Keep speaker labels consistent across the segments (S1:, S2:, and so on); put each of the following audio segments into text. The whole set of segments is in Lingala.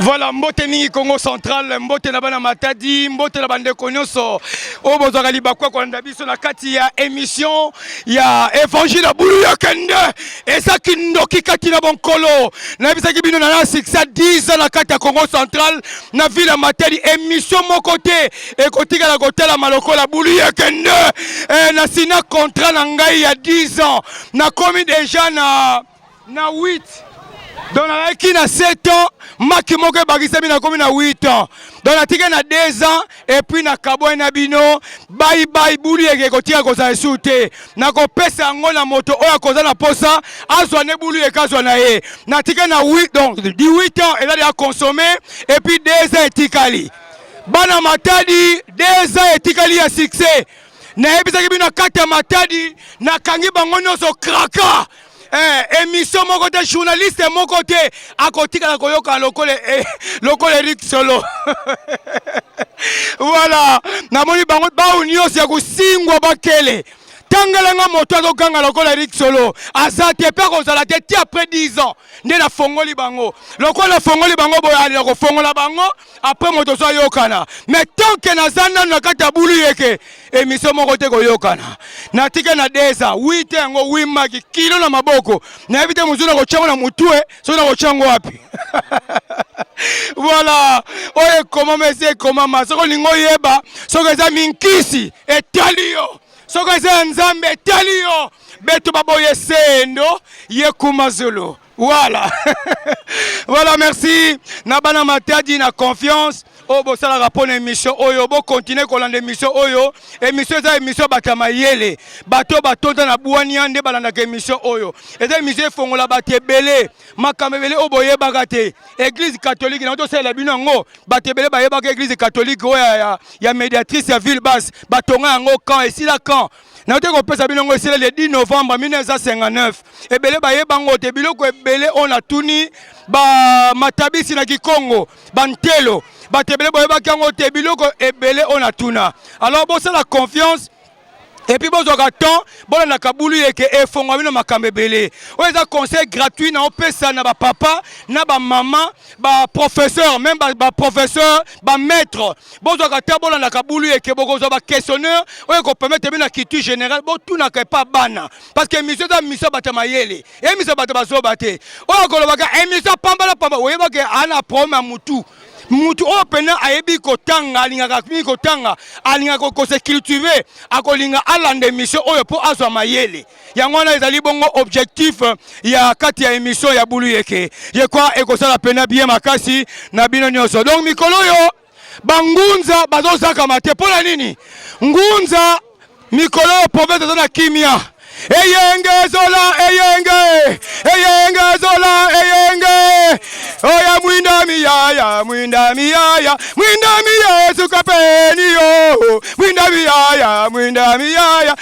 S1: Voilà, mbote mingi Congo central, mbote na bana matadi, mbote na bande konyoso. Oyo bozwaka libaku ya kolanda biso na kati ya émission ya Évangile ya bulu ya kende. Eza kindoki kati na bonkolo. Na bisaki bino na succès 10 ans na kati ya Congo central, na ville ya Matadi, émission moko te. ekotikala kotalama lokola buli ekende eh, na sina contrat na ngai ya 10 ans nakomi deja na na 8 donc nalaki na 7 ans maki moko ebakisami nakomi na 8 ans donc natike na 2 ans epuis nakabwani na bino baibai buli eke ekotika kozala esu te nakopesa yango na moto oyo akoza na posa azwa nde bulu eke azwa na ye natike na 8 donc 18 ans eza deya consomme epuis 2 ans etikali Bana Matadi deux ans etikali ya succès. Nayebisaki bino kati ya Matadi nakangi bango nyonso kraka. Eh, emission moko te journaliste moko te akotikala koyoka lokola eh, lokola Eric Solo. voilà, namoni bango bao nyonso ya kosingwa bakele. Tangela nga moto azoganga lokola Eric Solo aza te mpe akozala te ti après 10 ans nde nafongoli bango lokola nafongoli bango boye alela kofongola bango après moto ozo yokana mais tant que naza nanu na kati ya bulu yeke emission moko te koyokana natike na deza wi te yango wi maki kilo na maboko nayebi te mozuna kotyango na motue soki nakotyango wapi voilà oyo ekomama esi ekomama soki olingi oyeba soki eza minkisi etali yo soki eza ya nzambe etali yo beto baboye sendo ye kumazulu Voilà. voilà, merci. Nabana Matadi, na confiance. oyo bosalaka mpo na émission oyo bokontinue kolanda émission oyo émission eza émission bato ya mayele bato oyo batonda na bwania nde balandaka émission oyo eza émission efongola bato ebele makambo ebele oyo boyebaka te église catholique na tosalela bino yango bato ebele bayebaka église catholique oyo ya, ya, ya médiatrice ya ville basse batonga yango camp esila camp nayoki kopesa bino yango esileli 10 novembre 1959 ebele bayeba yango te biloko ebele oyo natuni bamatabisi na kikongo bantelo bato ebele boyebaki yango te biloko ebele oyo natuna alors bosala confiance epuis bozwaka temps bolandaka bulu yeke efongola bino makambo ebele oyo eza conseil gratuit na opesa na bapapa na bamama ba professeur même ba, ba professeur ba maître bozwaka ata bolandaka bulu eke bokozwa ba questionneur oyo ekopermettre bino na culture générale botunaka epa bana parce que émission eza misa bato ya mayele emisa bato bazoba te oyo akolobaka emisa pambala pamba oyebaki ana problème ya mutu mutu oyo mpena ayebi kotanga alingaka mingi kotanga alingaka kose cultive akolinga alanda emission oyo mpo azwa mayele yango wana ezali bongo objectif ya kati ya emission ya bulu yeke ye kwa ekosala pena bien makasi na bino nyonso donc mikolo oyo bangunza bazozakama te mpo na nini ngunza mikolo oyo province eza na kimia eyenge zola eyenge eyenge zola eyenge oya mwinda miyaya mwinda miyaya mwinda miyaya sukapeni yo mwinda miyaya mwinda miyaya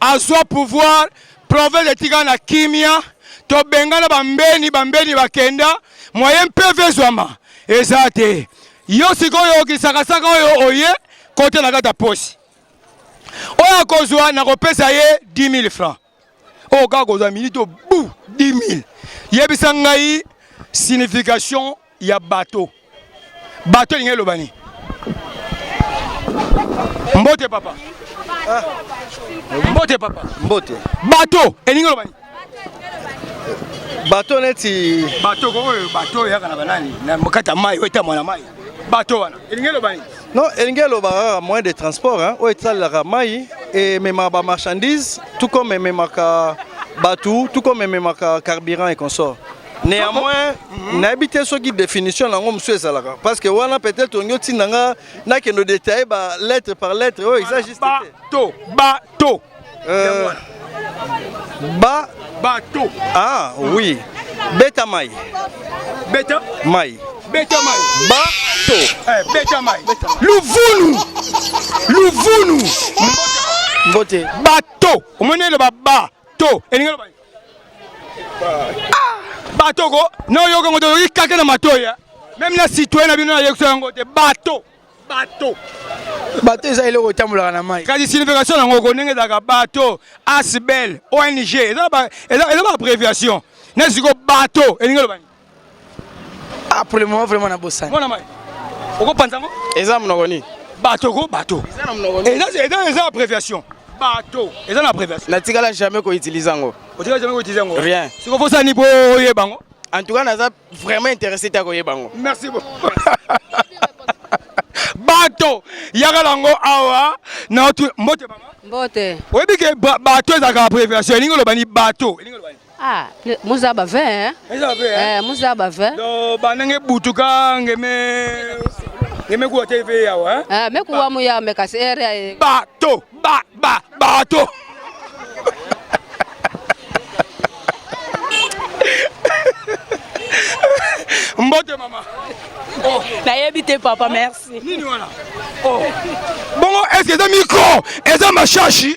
S1: azwa pouvoir province etika na kimia tobengana bambeni bambeni bakenda moyen mpeve ezwama eza te yo sikoyo kisakasaka oyo oye kote na kati ya posi oyo akozwa nakopesa ye 10 000 francs oyo kaka kozwa minute obu 10 000 yebisa ngai signification ya bato bato elingi eloba nini mbote papa ah. mbote papa mbote bato
S2: elingi
S1: eloba nini
S2: bato neti bato oyo
S1: bato oyaka na banani na mokata mai oyo etamwa na mai bato wana elingi eloba nini non elingi elobaka
S2: kaka moyen de transport oyo etalelaka mai ememaka bamarchandise tout comme ememaka bato tout comme ememaka carburant et consort Néanmoins, nayebi te soki définition nango mosusu ezalaka parce que wana peut-être olingi otinda nga nakende détailler ba lettre par lettre oyo eza juste te. Bato, bato.
S1: Euh, ba bato. Ah oui.
S2: Beta mai. Beta
S1: mai.
S2: Beta mai.
S1: Bato.
S2: Eh, beta mai.
S1: Luvunu. Luvunu.
S2: Mbote. Bato.
S1: Omoni eloba ba to. Elingi eloba Ah, bato ko na oyoka ngo toyoki kake na matoya eh. meme na citoyen na bino nayekisa yango te bato bato
S3: bato eza eloko etambolaka na mai kasi signification yango ko
S1: ndenge ezalaka bato asbel ong eza baabréviation na siko bato elingi elobani
S3: Ah, pour le moment vraiment na bosani. Mwana mai.
S1: Okopanza ngo? Eza munoko nini?
S3: Bato ko bato.
S1: Eza na munoko nini? Eza
S3: eza eza abréviation.
S1: Bato. Eza na abréviation. Natikala jamais ko
S3: utiliser ngo. Otikala jamais ko utiliser ngo.
S1: Rien. Siko fosa ni bo yeba ngo. En tout cas naza
S3: vraiment intéressé ta ko yeba ngo. Merci
S1: beaucoup. bato yaka nango awa na mbote mama mbote oyebi ke bato ezalaka abréviation elingi olobani bato elingi olobani Ah, muza
S4: ba vin hein? Muza ba vin. Hein? Eh, muza
S1: ba vin. Do
S4: banenge butuka
S1: ngeme ngeme kuwa te ve yawa hein? Eh, me kuwa mu yawa me kasi
S4: ere ya. Eh. Ba to ba
S1: ba ba to. Mbote mama. Oh. Nayebi te papa,
S4: merci. Nini wana?
S1: Oh. Bongo est-ce que eza micro? Eza mashashi?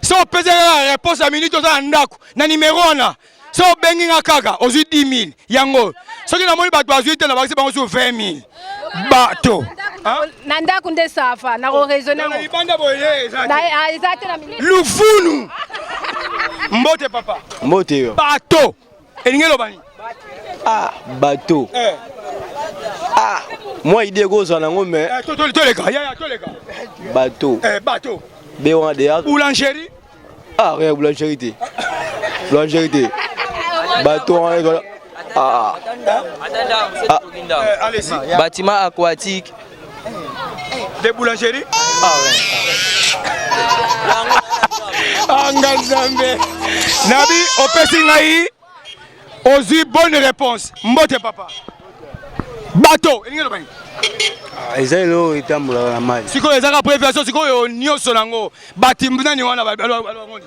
S1: so opesi kaka reponse ya minute oza na ndako na nimero wana so obengi nga kaka ozwi 10 000 yango soki namoni bato bazwi te nabakisi bango sur 20 000 bato na
S4: ndako nde sava nakoraisonne
S1: eza te na
S4: lufunu
S1: mbote papa mbote yo bato elingi eloba nini ah
S2: bato eh. ah mwa idée ekozwa nango mais eh, toleka yaya
S1: toleka bato eh,
S2: bato
S1: be wana deya
S2: boulangerie
S1: ah rien
S2: boulangerie te boulangerie te bato wana ezola ah, ah.
S1: ah. bâtiment aquatique de boulangerie anga nzambe nabi opesi ngai ozwi bonne réponse mbote papa bato elingi eloba nini ah, eza
S2: eloko etambolaka na mai sikoyo ezaka préviation
S1: sikoyo nyonso nango batimbu nani wana balobangoni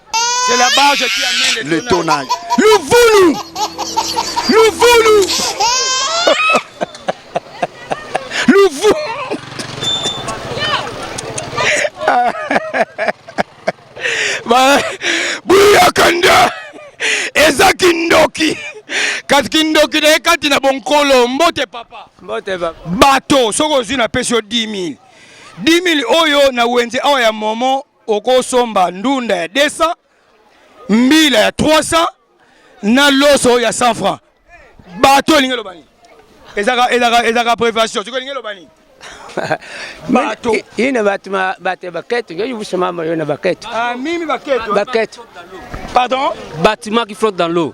S5: C'est la barge
S1: qui amène le, le tonnage.
S5: Luvulu
S1: Luvulu Luvulu Bouya Kanda eza kindoki kasi kindoki na ye kati na bonkolo mbote papa mbote papa
S3: bato soki ozwi
S1: napesi yo 10 000 10 000 oyo na wenze awa ya momo okosomba ndunda ya 200 mbila ya 300 na loso ya 100 francs bato elingi eloba nini ezaka ezaka ezaka prévention soki elingi eloba nini bato ina bato
S3: bato baketo yo yubusa mama yo na baketo ah mimi
S1: baketo
S3: baketo pardon bâtiment qui
S1: flotte dans
S3: l'eau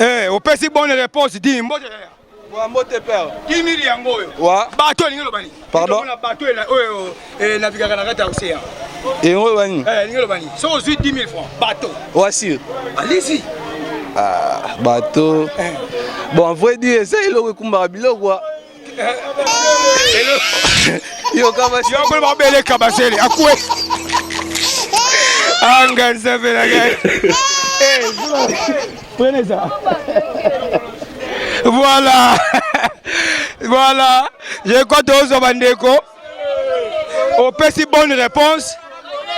S1: Eh, opesi bonne réponse di mbote yaya. Wa mbote père. Kimili yango oyo. Wa. Bato elingi loba nini? Pardon. Tona bato ela
S2: oyo
S1: eh navigaka na kati ya ocean. Yango loba
S2: nini? Eh, elingi loba nini? So
S1: ozui 10 000 francs, bato. Wa sûr.
S2: Allez-y.
S1: Ah,
S2: bato. Eh. Bon, en vrai dire, eza eloko ekumbaka biloko. Yo kabasele. Yo koloba bele kabasele.
S1: Akwe. Anga nzambe na ngai. Eh, prenez ça. Voilà. Voilà. Je crois que tous les opesi bonne réponse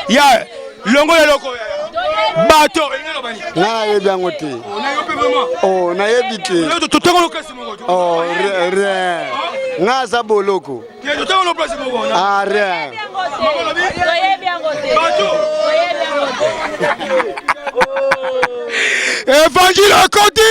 S1: ya longola eloko bato nga
S6: nayebi yango te oh, nayebi te oh, rien nga aza boloko ah, rien
S1: evangile akoti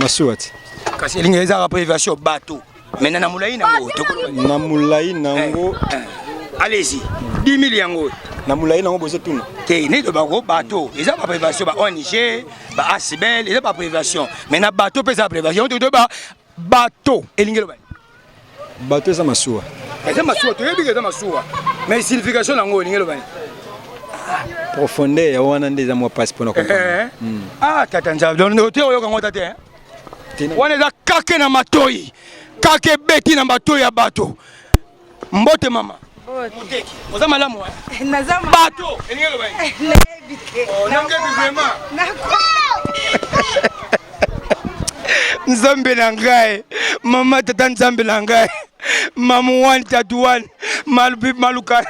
S1: masuwa ti
S6: kasi elingi
S1: ezalaka mpo aviation bato maintenant na molai nango na molai
S6: nango eh, eh. allez-y
S1: 10 000 yango na molai nango
S6: bozotuna te neti bango
S1: bato eza baprivation ba ong ba asbel eza baprivation mais na bato mpe eza baprivation totoyeba bato elingi eloba bato
S6: eza
S1: masuwa eza masuwa toyebi ke eza masuwa mais signification na yango olingi eloba nini profondeur
S2: ya wana nde eza mwa mpasi mpona eh, eh, eh. hmm. ah tata
S1: nzambe ote oyoka yango ta te wana eza kake na matoi kake ebeti na matoi ya bato mbote mama moteki oza malamu eh? naza bato elingi eloba eh, nayebi te oh, nayebi vraiment nzambe na ngai mama tata nzambe na ngai mamu wani tatu wani maluka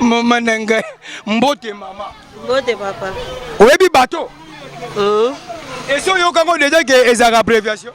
S1: mama na ngai mbote mama mbote
S7: papa oyebi bato
S1: esi oyokango deja ke ezalaka abréviation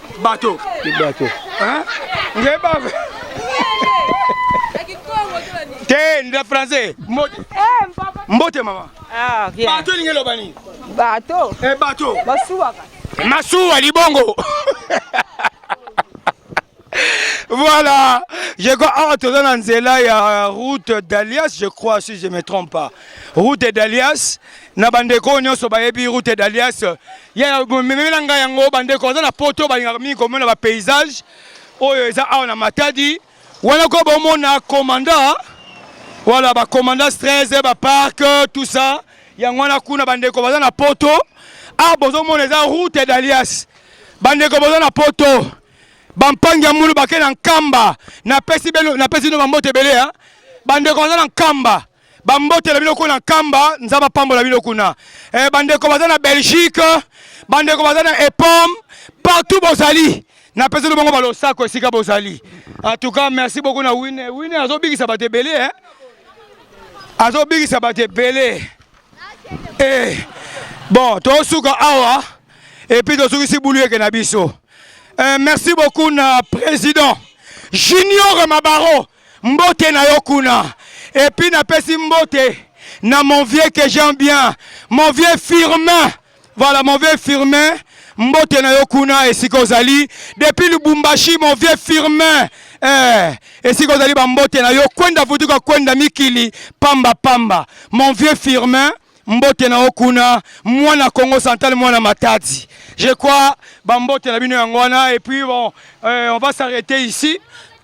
S1: bato bato hein nge ba te nda français mbote eh, mbote mama ah bien bato lingi loba nini bato eh bato masuwa masuwa libongo voilà je crois awa toza na nzela ya route d'alias je crois si je me trompe pas route d'alias na bandeko oyo nyonso bayebi route d'alias ya memela ngai yango bandeko aza na poto balingaka mingi komona bapaysage oyo eza awa na matadi wana ko bomona commanda voilà bacommanda 13 baparke tout ça yango wana kuna bandeko baza na poto awa ah, bozomona eza route d'alias bandeko boza na poto bampangi ya mulu bake na nkamba napesi bino bambote ebele bandeko baza na nkamba bambote na bino kuna nkamba nzambe apambola bino kuna eh, bandeko baza na belgique bandeko baza na epom partout bozali napeseli bongo balosako esika bozali en tout cas merci beaucoup na wine wine azobikisa bato ebele eh? azobikisa bato ebele eh. bon tosuka awa epuis tosukisi bulu eke na biso eh, merci beaucoup na président junior mabaro Mbote na yo kuna. Et puis napesi mbote na mon vieux que j'aime bien, mon vieux Firmin. Voilà mon vieux Firmin. Mbote na yo kuna esika ozali depuis Lubumbashi mon vieux Firmin. Eh, esika ozali ba mbote na yo kwenda vutuka kwenda mikili pamba pamba. Mon vieux Firmin mbote na okuna mwana Congo central mwana Matadi je crois ba mbote na bino yango wana et puis bon euh, on va s'arrêter ici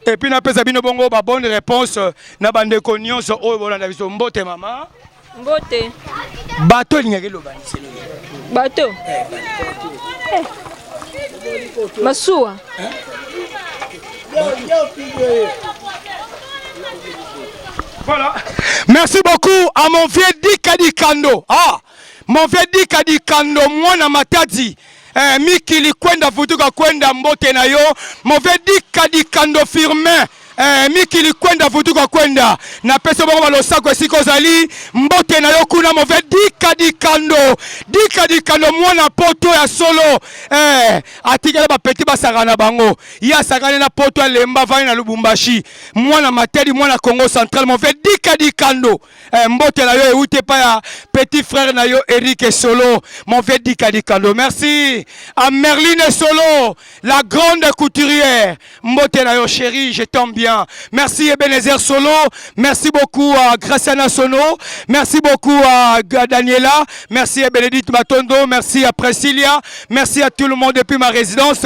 S1: et puis napesa bino bongo ba bonne réponse euh, na bandeko nyonso oyo bolanda biso mbote mama mbote
S7: bato
S1: elingaki eloba liselo bato
S7: eh, eh. masuwa eh?
S1: Voilà. Merci beaucoup à mon vieux Dika Dikando. Ah, mon vieux Dika Dikando, moi na matadi. Eh, mikili kwenda vutuka kwenda mbote na yo. Mon vieux Dika Dikando Firmin. Eh, mikili kwenda vutuka kwenda na peso bongo balosako esika ozali mbote na yo kuna move dika dikando dika dikando mwana poto ya solo eh, atikela bapeti basaka na bango ye asakani na poto alemba avandi na lubumbashi mwana matadi mwana congo central move dika dikando eh, mbote na yo euti epai ya petit frère na yo erike solo move dika dikando merci a merline solo la grande couturière mbote na yo chéri je tombe bien merci ebenezer solo merci beaucoup à graciana sono merci beaucoup à daniela merci à bénédicte matondo merci à presilia merci à tout le monde depuis ma résidence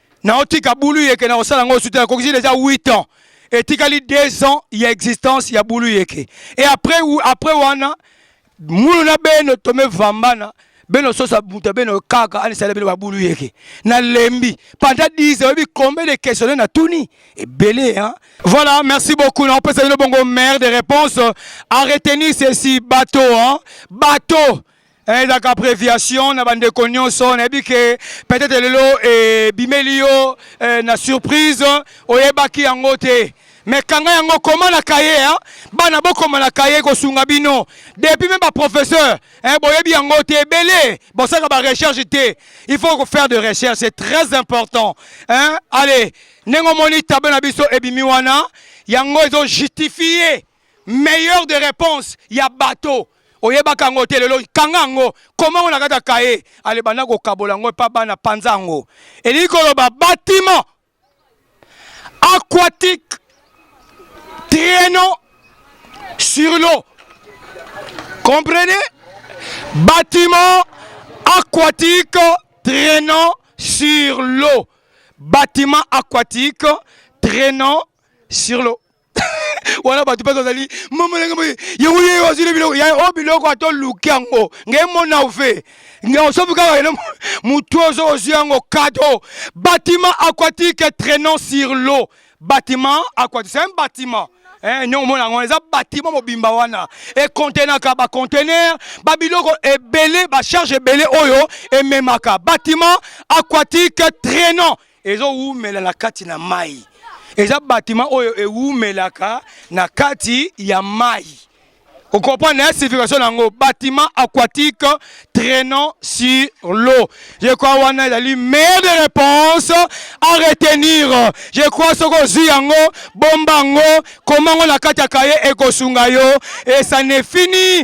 S1: naotika bulu yeke na kosala yango suta nakokisi deja 8 ans etikali 2 ans ya existence ya bulu yeke e après, après wana mulu na beno tome vambana beno sosa buta beno kaka anisala beno babulu yeke na lembi panda 10 oyebi combien de questionnaire na tuni ebele hein voilà merci beaucoup na opesa bino bongo mère de réponse à retenir ceci bateau hein bateau Eh, ezalaka préviation na bandeko nyonso nayebi ke peut-être lelo ebimeli eh, yo eh, na surprise oyebaki yango te me kanga yango koma na kaye hein? bana bokoma na kaye kosunga bino depuis meme baprofesseur hein, boyebi yango te ebele bosaka barecherche te il faut faire de recherche c'est très important hein? allez ndenge omoni tablo na biso ebimi wana yango ezojustifie meilleur de réponse ya bateau oyebaka yango te lelo kanga yango koma yango na kati ya kaye ale banda kokabola yango epa bana panza yango elingi koloba batiment aquatique traîneau sur l'eau comprenez batiment aquatique traînant sur l'eau. Bâtiment aquatique traînant sur l'eau. wana bato mpe tozali mamalenge boye yango ye ozwi na biloko ya o biloko ato luki yango ngai mona ove ngai osofi kaka ene motu ozo ozwi yango kado bâtiment aquatique traînant sur l'eau bâtiment aquatique c'est un bâtiment Eh, nyongo mona yango eza batima mobimba wana ekontenaka bacontener babiloko ebele bacharge ebele oyo ememaka bâtiment aquatique traînant ezowumela na kati na mai eza batima oyo ewumelaka na kati ya mai okomprendre na signification na yango batiment aquatique traînant sur l'eau je crois wana ezali meilleure de réponse à retenir je crois soki ozwi yango bomba yango koma yango na kati ya kaye ekosunga yo et ça ne fini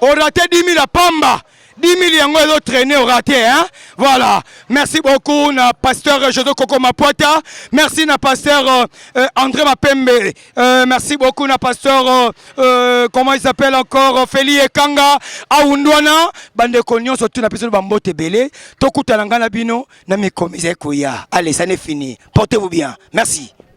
S1: au raté 10 000 à Pamba. 10 000 yango ezo traîner au raté hein. Voilà. Merci beaucoup na pasteur José Coco Mapuata. Merci na pasteur euh, euh, André Mapembe. Euh, merci beaucoup na pasteur euh, euh, comment il s'appelle encore euh, Feli Ekanga Aundwana bande ko nyonso tuna biso ba mbote belé. Tokutana ngana bino na mikomize koya. Allez, ça n'est fini. Portez-vous bien. Merci.